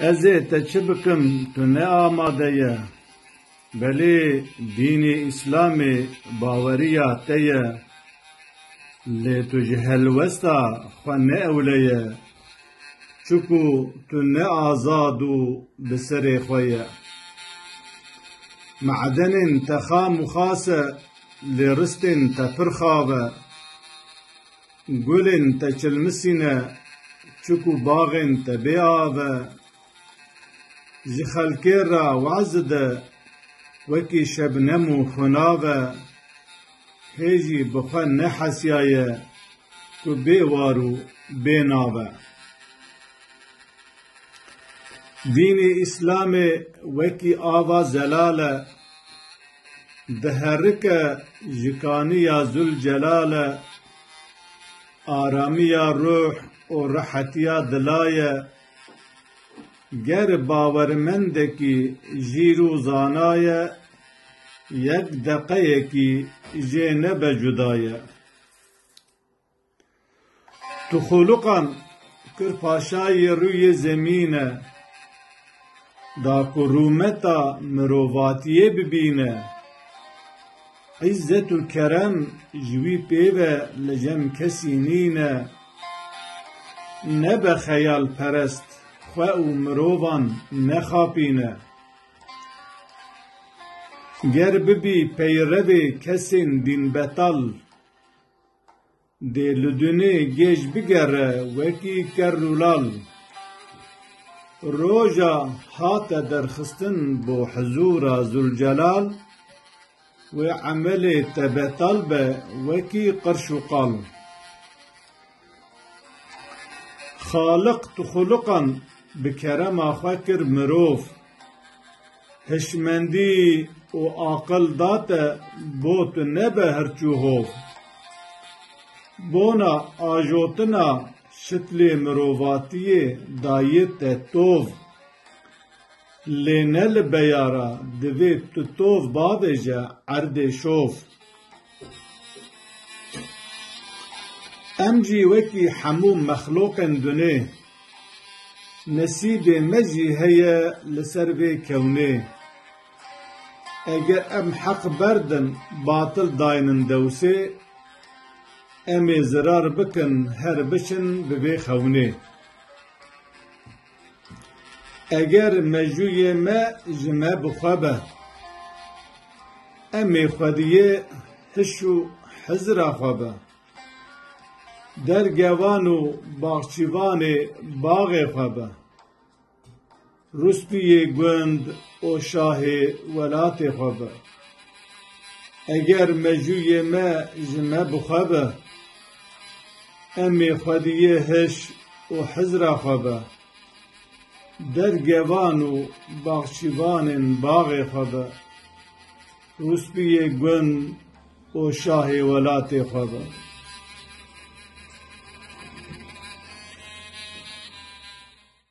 Ez ê te çi bikim tu ne amade ye. Belê dînê îslamê baweriya te ye. Lê tu ji helwesta xwe ne ewle ye. Çiku tu ne azad û bi serê xwe ye. Madenên te xam û xas e lê ristên te pir xav e. Gulên te çilmisî ne, çikû baxên te bê av e. Ji xelkê re waz de, wekî şebnem û xunav e. Hê jî bi xwe nehesiyaye ku bê war û bê nav e. Dînê Îslamê wekî ava zelal e, Diherike ji kanî ya Zûlcelal e, aramî ya ruh û rehetîya dila ye. Ger bawermendekî jîr û zana ye, yek deqeyekî jê nebe cuda ye. Tu xoluqan kir paşayê rûyê zemîne, da ku rûmeta mirovatiyê bibîne, îzzet û kerem ji wî pê ve li cem kesî nîne. Nebe xeyalperest, xwe û mirovan nexapîne. Ger bibî peyrevê kesên dînbetal, Dê li dunê gêj bigere wekî ker û lal. Roja hate derxistin bo hizûra Zûlcelal, wê emelê te betal be wekî qirş û qal. Xaliq tu xuliqan bi kerema xwe kir mirov. Hişmendî û aqil da te bo tu nebe hirçû hov. Bona ajotina şitlê mirovatiyê dayê te tov. Lê ne li beyara divê tu tov bavêje erdê şov. Em jî wekî hemû mexlûqên dunê, nesîbê me jî heye li ser vê kewnê. Eger em heq berdin batil daynin dewsê, em ê zirar bikin her biçin bi vê xewnê. Eger mejûyê me ji me bi xwe be, em ê xwediyê hiş û hizira xwe be, dergevan û baxçîvanê baxê xwe be, rûspiyê gund û şahê welatê xwe be. Eger mejûyê me ji me bi xwe be. Emê xwe di yê hiş û hizra xwe be, dergevan û baxçîvanên baxê xwe be, rûspiyê gund û şahê welatê xwe be.